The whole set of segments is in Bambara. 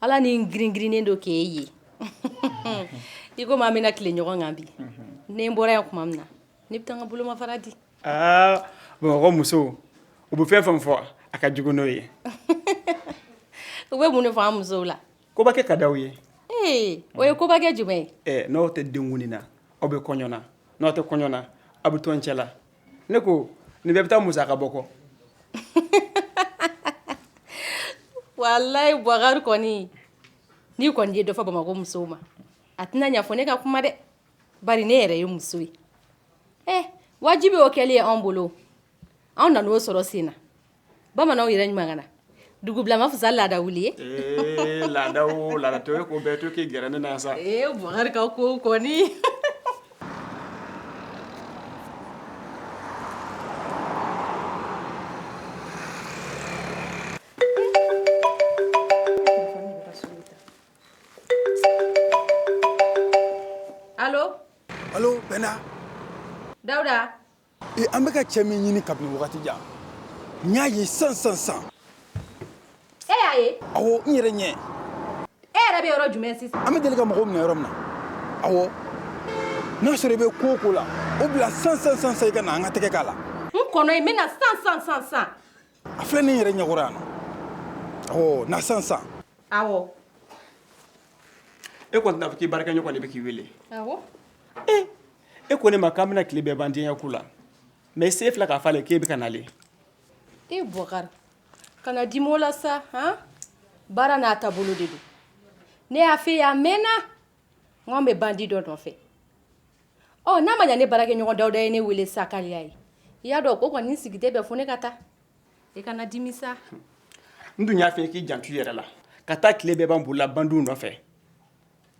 Ala ni giringirinnen don k'e ye i komi an bɛna tile ɲɔgɔn kan bi ne bɔra yan tuma min na ne bɛ taa n ka bolomafara di aa bamakɔ musow u bɛ fɛn fɛn fɔ a ka jugu n'o ye u bɛ mun fɔ musow la kobakɛ ka di aw ye ee o ye kobakɛ jumɛn ye n'aw tɛ denkundi na aw bɛ kɔɲɔ na n'aw tɛ kɔɲɔ na aw bɛ tɔn cɛ la ne ko nin bɛɛ bɛ taa musaka bɔ ko walayi bukari kɔni n'i kɔni ye dɔ fɔ bamakɔ musow ma a tɛna ɲa fo ne ka kuma dɛ bari ne yɛrɛ ye muso ye wajibi y'o kɛli ye anw bolo anw nana o sɔrɔ sen na bamananw yɛrɛ ɲuman na dugu bila man fisa laada wuli ye laada la to ko bɛɛ to k'i g ne na sa bɔkari ka ko kɔni alo dawuda Ee an bɛ ka cɛ min ɲini kabini wagati jan n y'a ye san san san e y'a ye a n yɛrɛ ɲɛ e yɛrɛ bɛ yɔrɔ jumɛn sisan an bɛ deli ka mɔgɔw minɛ yɔrɔ min na n'a y'a sɔrɔ i bɛ ko o ko la o bila san san san san i ka na an ka tɛgɛ k'a la n kɔnɔ i bɛna san san san san a filɛ ne yɛrɛ ɲɛkɔrɔ yan ɔ na san san aw e kɔni tɛna a fɔ k'i baarakɛ ɲɔgɔn de bɛ k'i wele ee e ko ne ma k'an bɛna tile bɛɛ ban diya ko la mɛ i se fila k'a fɔ k'e bɛ ka nalen e bɔkari kana dimi o la sa han baara n'a taabolo de don ne y'a fɔ e ye a mɛnna n k'an bɛ bandi dɔ nɔfɛ ɔ n'a ma ɲɛ ne baarakɛ ɲɔgɔn dawuda ye ne wele sa k'ale y'a ye i y'a dɔn k'o kɔni sigi tɛ bɛn fo ne ka taa i kana dimi sa n dun y'a fɔ k'i janto i yɛrɛ la ka taa tile bɛɛ ban boli la bandiw nɔfɛ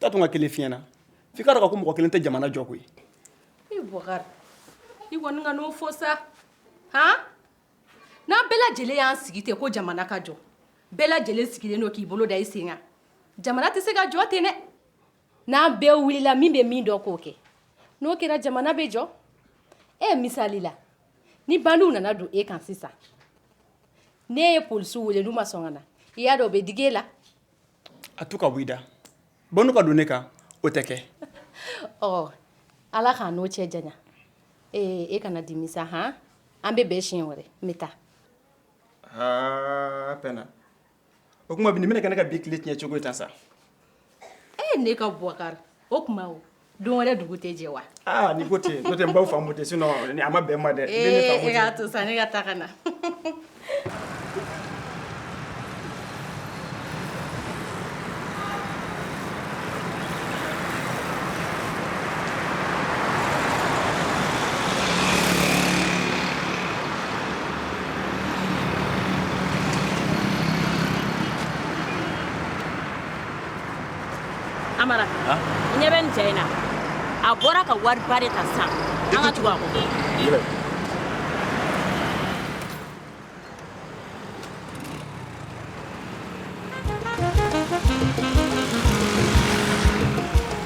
taa tun ka kelen fiɲɛ na f'i k'a dɔn ko mɔgɔ kelen tɛ jamana jɔ koyi i bɔkari i kɔni kana o fɔ sa han n'an bɛɛ lajɛlen y'an sigi ten ko jamana ka jɔ bɛɛ lajɛlen sigilen don k'i bolo da i sen kan jamana tɛ se ka jɔ ten dɛ n'an bɛɛ wulila min bɛ min dɔn k'o kɛ n'o kɛra jamana bɛ jɔ e misali la ni bandiw nana don e kan sisan n'e ye polisiw wele n'u ma sɔn ka na i y'a dɔn u bɛ digi e la a to ka b'i da bɔ n'u ka don ne kan o tɛ kɛ ɔ ala k'an n'o cɛ janya ee e kana dimi sa han an bɛ bɛn siɲɛ wɛrɛ n bɛ taa aa pɛna o tuma bi nin bɛna kɛ ne ka bi tile tiɲɛ cogo ye tan sa ee ne ka bubakari o tuma o Don wɛrɛ dugu tɛ jɛ wa n'i ko ten ko tɛ baw faamu tɛ sinɔn a ma bɛn ma dɛ y'a to san ne ka taa ka na amara i ɲɛ bɛ nin cɛ in na a bɔra ka wariba de ta sisan an ka tugu a kɔ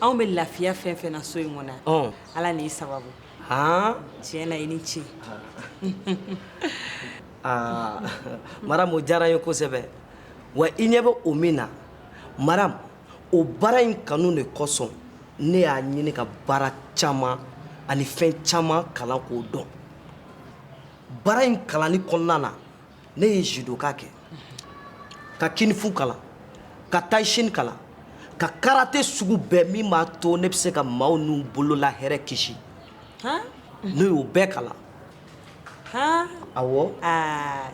anw bɛ lafiya fɛn fɛn na so in kɔnɔ yan ala ni i sababu tiɲɛ na i ni ce aa maramu o diyara n ye kosɛbɛ wa i ɲɛ bɛ o min na maramu o baara in kanu de kosɔn ne y'a ɲini ka baara caman ani fɛn caman kalan k'o dɔn baara in kalanni kɔnɔna na ne ye judoka kɛ ka kinifu kalan ka taishin kalan ka karate sugu bɛɛ min b'a to ne bɛ se ka maaw n'u bolola hɛrɛ kisi ne y'o bɛɛ kalan awɔ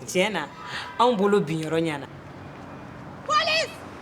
tiɲɛ na anw bolo binyɔrɔ ɲɛna